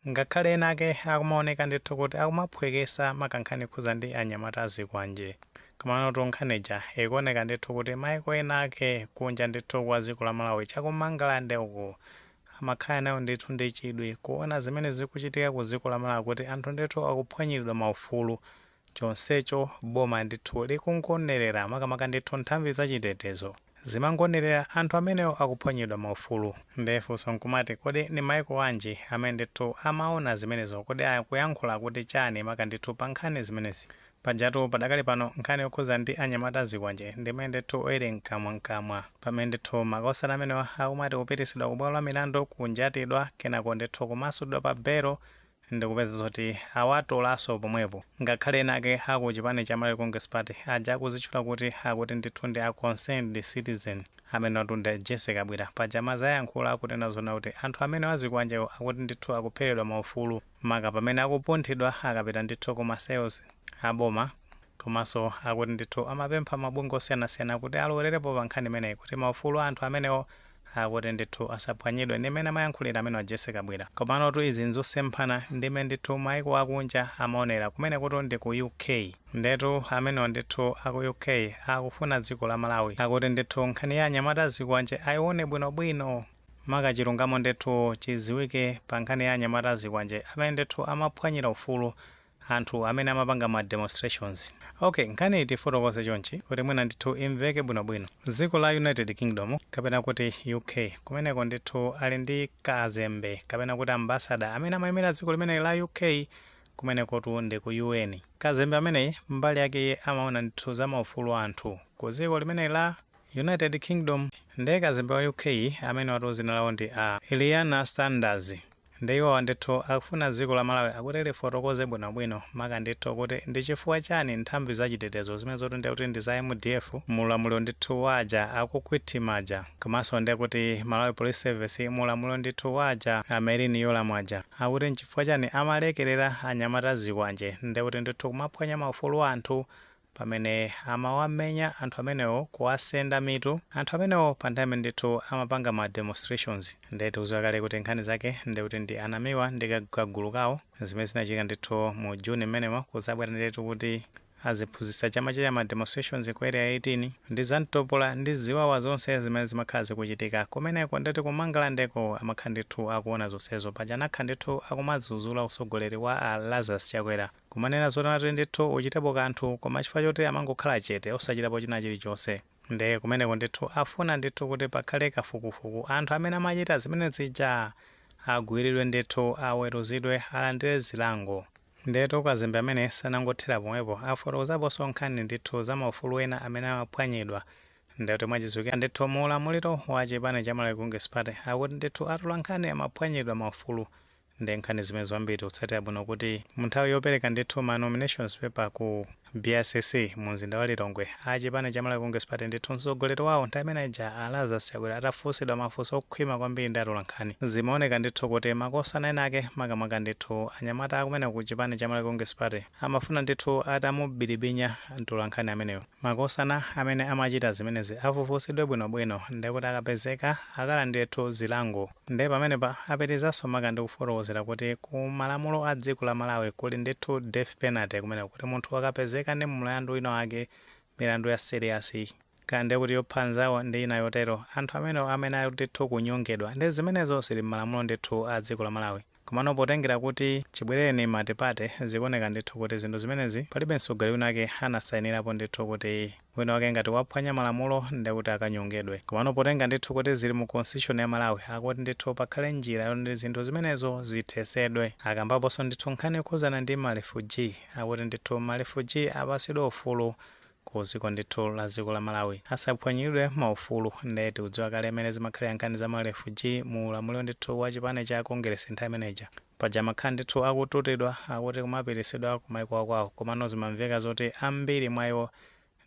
Ngakhale ena ake akumaoneka ndithu kuti akumaphwekesa maka nkhani yokhuza ndi anyamata azikwanje. Komanotu nkhani ija ikuoneka ndithu kuti maiko ena ake kunja ndithu kwa dziko la Malawi cha ku Mangalande uku amakhala nayo ndithu ndi chidwi kuona zimene zikuchitika ku dziko la Malawi kuti anthu ndithu akuphwanyiridwa maufulu chonsecho boma ndithu likungonerera makamaka ndithu nthambi za chitetezo zimangonerera anthu amenewo akuphwanyidwa maufulu nde funso nkumati kodi ndi maiko anji amene ndithu amaona zimenezo kodi akuyankhula kuti chani maka ndithu pa nkhani zimenezi pajatu padakali pano nkhani yokhuza ndi anyamata azikwanje ndi imene ndithu ili mkamwa mkamwa pamene ndithu makosana amenewa akumati kupitisidwa ku bwalo la milandu kunjatidwa kenako ndithu kumasulidwa pa belo ndikupeza zoti awatolanso pomwepo ngakhale ena ake aku chipani cha Malawi Congress Party aja akuzitchula kuti akuti ndithu ndi a Concerned Citizen amenewatu ndi a Jessie Kabwira paja mwazi ayankhula akunena zoona kuti anthu amenewa azikwanjewo akuti ndithu akupheredwa maufulu maka pamene akupunthidwa akapita ndithu ku ma cells a boma komanso akuti ndithu amapempha mabungwe osiyanasiyana kuti alowererepo pa nkhani imeneyi kuti maufulu a anthu amenewo akuti ndithu asaphwanyidwe ndi mmene amayankhulira amenewa Jessy Kabwira. Komanotu izi nzosemphana ndi mmene ndithu maiko akunja amaonera. Kumenekutu ndi ku UK. Ndetu amenewa ndithu a ku UK akufuna dziko la Malawi akuti ndithu nkhani ya anyamata a zikwanje aione bwinobwino. Maka chilungamo ndithu chidziwike pa nkhani ya anyamata a zikwanje amene ndithu amaphwanyira ufulu. anthu amene amapanga ma demonstrations. Ok, nkhaniyi tiifotokoze chonchi kuti mwina ndithu imveke bwinobwino. Dziko la United Kingdom kapena kuti UK, kumeneko ndithu ali ndi kazembe kapena kuti ambassador amene amaimira dziko limeneli la UK, kumenekotu ndi ku UN. Kazembe ameneyi mbali yake iye amaona ndithu za maufulu a anthu ku dziko limeneli la United Kingdom. Ndiye kazembe wa UK amenewatu dzina lawo ndi a Eleanor Sanders. Nde iwowa ndithu akufuna dziko la Malawi akuti lifotokoze bwinobwino maka ndithu kuti ndi chifukwa chani nthambi za chitetezo zimenezotu ndiye kuti ndi za MDF mu ulamuliro ndithu wa aja akukhwithima aja komanso ndiye kuti Malawi Police Service mu ulamuliro ndithu wa aja a Merlyn Yolamu aja akuti nchifukwa chani amalekerera anyamata azikwanje ndiye kuti ndithu kumaphwanya maufulu a anthu pamene amawamenya anthu amenewo kuwasenda mitu anthu amenewo pa nthawi imene ndithu amapanga ma demonstrations nde tikuziwa kale kuti nkhani zake nde kuti ndi a Namiwa ndi kagulu kawo zimene zinachitika ndithu mu June mmenemo kuzabwera ndiyetu kuti aziphunzitsi chama cha ma demonstrations ku area 18 ndi za mtopola ndi ziwawa zonse zimene zimakhala zikuchitika kumeneko ndetu ku Mangalandeko amakhala ndithu akuona zonsezo paja anakhala ndithu akumadzudzula utsogoleri wa a Lazarus Chakwera Kumanena zoti mwati ndithu uchitepo kanthu koma chifukwa choti amangokhala chete osachitapo china chilichonse. Nde kumeneko ndithu afuna ndithu kuti pakhale kafukufuku anthu amene amachita zimene zija agwiridwe ndithu aweruzidwe alandire zilango. Ndiyetu kazembe amene sanangothera pomwepo afotokozaponso nkhani ndithu za maufulu ena amene amaphwanyidwa nde kuti mwachidziwikire ndithu mu ulamuliro wa chipani cha Malawi Congress Party akuti ndithu atolankhani amaphwanyidwa maufulu nde nkhani zimenezo ambiri tikutsatira bwino kuti mu nthawi yopereka ndithu ma nominations paper ku BICC mu mzinda wa Lilongwe a chipani cha Malawi Congress Party ndithu mtsogoleri wawo nthawi imene ija a Lazarus Chakwera atafunsidwa mafunso okhwima kwambiri ndi atolankhani zimaoneka ndithu kuti makosana enaake makamaka ndithu anyamata akumeneko ku chipani cha Malawi Congress Party amafuna ndithu atamubilibinya mtolankhani ameneyo makosana amene amachita zimenezi afufusidwe bwinobwino ndi kuti akapezeka akalandire ndithu zilango. Nde pamenepa apitirizanso maka ndi kufotokozera kuti ku malamulo a dziko la Malawi kuli ndithu death penalty kumeneko kuti munthu akapezeka ndi mlandu wina wake, milandu ya serious, kaya ndi kuti yopha anzawo ndi ina yotero, anthu amenewo amene ali ndithu kunyongedwa. Nde zimenezo zili m'malamulo ndithu a dziko la Malawi. Komano potengera kuti chibwereni multiparty zikuoneka ndithu kuti zinthu zimenezi palibe mtsogoleri winawake anasainirapo ndithu kuti winawake ngati waphwanya malamulo ndi kuti akanyongedwe komano potengera ndithu kuti zili mu constitution ya Malawi akuti ndithu pakhale njira yoti zinthu zimenezo zithesedwe akambaponso ndithu nkhani yokhudzana ndi ma refugee akuti ndithu ma refugee apasidwe ufulu kuziko ndithu la ziko la malawi asaphwanyiridwe maufulu nde tikudziwa kale mene zimakhalira nkhani za ma refugee mu ulamuliro ndithu wa chipani cha kongeresi nthawi imene ija paja amakhala ndithu akututidwa akuti kumapirikitsidwa ku maiko akwawo komano zimamveka zoti ambiri mwa iwo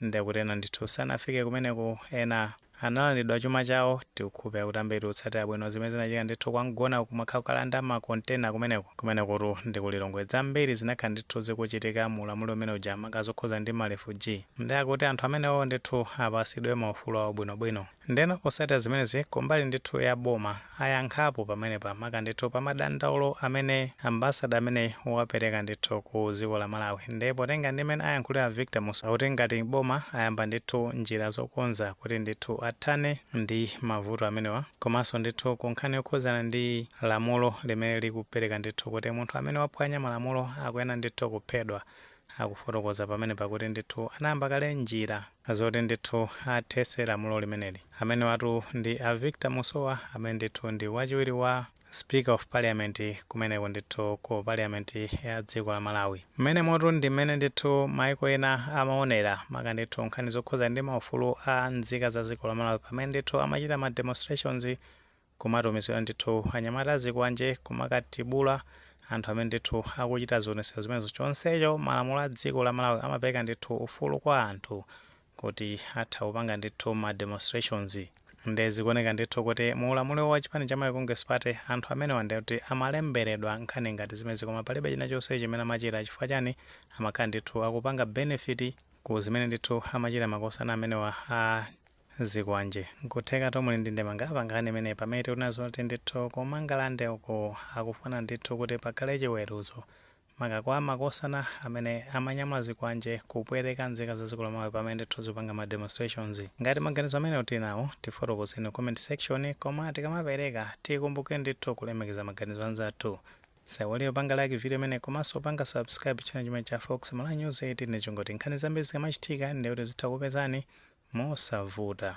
ndi kuti ena ndithu sanafike kumeneko ena Analandidwa chuma chawo, tikukhulupira kuti ambiri tikutsatira bwino zimene zinachitika ndithu kwa Mgona kumakhala kukalanda ma container kumeneko, kumenekutu ndi ku Lilongwe, zambiri zinakhala ndithu zikuchitika mu ulamuliro umene uja maka zokhuza ndi ma refugee, nde akuti anthu amenewo ndithu apasidwe maufulu awo bwinobwino. Ndeno posatira zimenezi, kumbali ndithu ya boma, ayankhapo pamenepa maka ndithu pa madandaulo amene ambassador ameneyi wapereka ndithu ku dziko la Malawi nde potenga ndi mmene ayankhulira a Victor Musowa kuti ngati boma ayamba ndithu njira zokonza kuti ndithu athane ndi mavuto amenewa komanso ndithu ku nkhani yokhudzana ndi lamulo limene likupereka ndithu kuti munthu amene waphwanya malamulo akuyenera ndithu kuphedwa akufotokoza pamenepa kuti ndithu anayamba kale njira zoti ndithu athetse lamulo limeneli. Amenewatu ndi a Victor Musowa amene ndithu ndi wachiwiri wa Speaker of Parliament kumeneko ndithu ku Parliament ya dziko la Malawi. Mmenemotu ndi mmene ndithu maiko ena amaonera maka ndithu nkhani zokhudza ndi maufulu a nzika za dziko la Malawi pamene ndithu amachita ma demonstrations kumatumizira ndithu anyamata azikwanje kumakatibula anthu amene ndithu akuchita zionetsero zimenezo chonsecho malamulo a dziko la Malawi amapereka ndithu ufulu kwa anthu kuti atha kupanga ndithu ma demonstrations nde zikuoneka ndithu kuti mu ulamuliro wa chipani cha Malawi Congress Party anthu amenewa nde kuti amalemberedwa nkhani ngati zimenezi koma palibe china chonse chimene amachita chifukwa chani amakhala ndithu akupanga benefit ku zimene ndithu amachita makosana amenewa a zikwanje. Nkutheka tomwe tili ndi ndemanga pa nkhani imeneyi pamene tikunena zoti ndithu ku Mangalande uko akufuna ndithu kuti pakhale chiweruzo maka kwa makosana amene amanyamula zikwanje kupweteka nzika za dziko la Malawi pamene ndithu zikupanga ma demonstrations. Ngati maganizo amenewo tili nawo tifotokozeni ku comment section koma tikamapereka tikumbukire ndithu kulemekeza maganizo anzathu. Osaiwala kupanga like video imeneyi komanso kupanga subscribe channel chimenechi cha Fox Malawi News 18 ncholinga choti nkhani zambiri zikamachitika ndekuti zitha kupezani mosavuta.